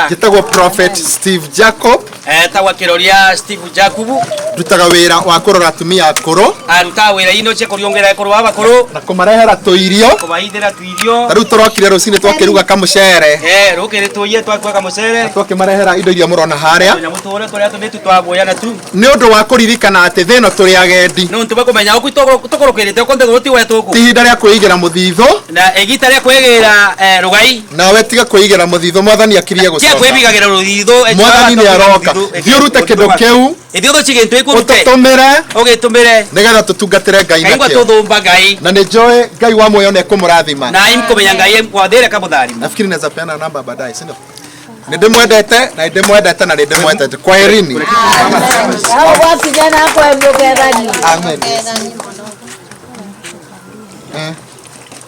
njĩtagwo prophet steve jacob etagwa kiroria steve jakubu ndutaga wĩra wa kũrora atumia akũrũ arutaga wĩra ino cia kũriũngĩra ekũrũ wa bakũrũ na kũmarehera tũirio kũmaithĩra tuirio ta rĩu tũrokire rũcinĩ twakĩruga kamũcere Eh, rũkĩrĩ tũiye twakuaga mũcere twakĩmarehera indo iria mũrona harĩa na mũtũhũre tũrĩa tũmĩtu twaguoya na tu nĩ ũndũ wa kũririkana atĩ thĩno tũrĩ agendi nĩ ũntũ bakũmenya ũku tũkũrũkĩrĩte ũkũnthĩ gũti wetũkũ ti ihinda rĩa kwĩigĩra mũthithũ na igita rĩa kwĩgĩra eh, rũgai nawe tiga kwĩigĩra mũthithũ mwathani akirie tia gũcoka kwĩbigagĩra rũthithũ mwathani nĩ aroka thiĩ ũrute kĩndũ kĩu ithiĩ ũthũci gĩntũ ĩkũrute ũtũtũmĩre ũgĩtũmĩre nĩgetha tũtungatĩre ngai kaigua nakĩo tũthũmba ngai na nĩ njũĩ ngai wa muoyo nĩ ekũmũrathima na imkũmenya ngai kwathĩre kamũtharima nafikiri naweza peana namba baadaye sindio nĩndĩmwendete na nĩndĩmwendete na nĩndĩmwendete kwaherini Hao watu jana hapo wameongea nani? amen Eh.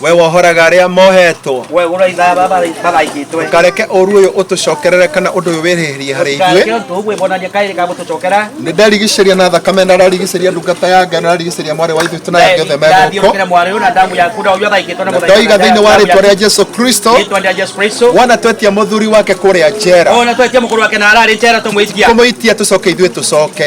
we wohoraga arĩa mohetwo kareke ũru ũyũ ũtũcokerere kana ũndũ ũyũ wĩrĩhĩrie harĩ ithuĩ nĩ ndarigicĩria na thakame na rarigicĩria ndungata ya ngai na rarigicĩria mwarĩ wa ithuĩ tũnaya othe megũkũ na ndoiga thĩinĩ wa rĩtwa rĩa jesu kristo wona twetia mũthuri wake kũrĩa njera kũmũitia tũcoke ithuĩ tũcoke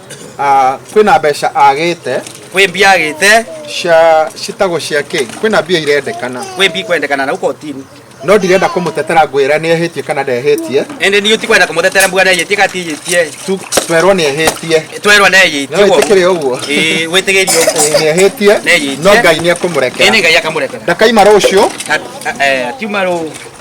Ah, kwĩna mbeca agĩte kwĩ mbia agĩte cia citagwo cia kĩ kwĩna mbia irendekana kwĩ mbia kwendekana na ukotini no ndirenda kũmũtetera ngwĩra nĩ ehĩtie kana ndehĩtie ende ni utikwenda kumutetera mbuga na yetie kati yetie Tu- twerwo nĩ ehĩtie twerwa na yetie no wĩtĩkĩre ũguo eh wetegerio Ĩĩ, nĩ ehĩtie Nĩ ehĩtie. no ngai nĩ ekũmũrekera ene ngai akamurekera ndakaima rũciũ Ka- eh tiuma ro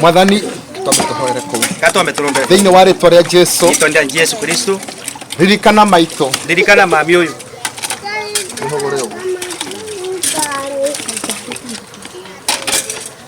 mwathani twambe tũhoere kũu katwambe tũrũmbe thĩinĩ wa rĩtwa rĩa jesu rĩtwa rĩa jesu kristo ririkana maitũ ririkana mami ũyũ Ihũgũre ũguo.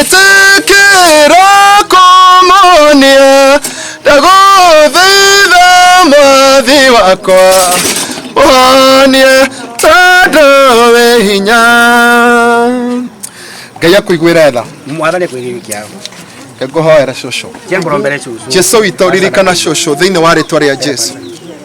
ĩtĩkĩra kũmonia ndagũthaitha mwathi wakwa ũhonie tondũ wĩ hinya ngai akũiguĩra tha mwathani akwĩgĩrĩ kĩao ngũhoera cũcũ tia ngoro mbere cucu jesu witũ ririkana cũcũ thĩinĩ wa rĩtwa rĩa jesu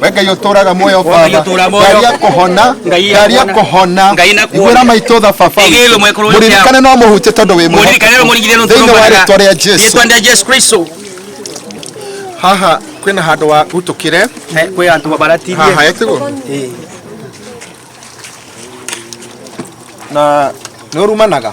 we ngai uturaga muoyo Ngai baba ũtũũra muoyo. ngai akuhona Ngai ngai akuhona. akuhona Ngai nakuona. igwira maitå tha baba Igĩrĩrwo mwekũrũ witũ. muririkane no må hutie tondå wä mũririkane no mũringithie no thĩinä wa rä twa rä a jesu Rĩtwa rĩa Jesu Kristo haha kwä na handå wa utå kä re Eh, kwĩ andũ mabaratirie haha etigo Eh, na nä å rumanaga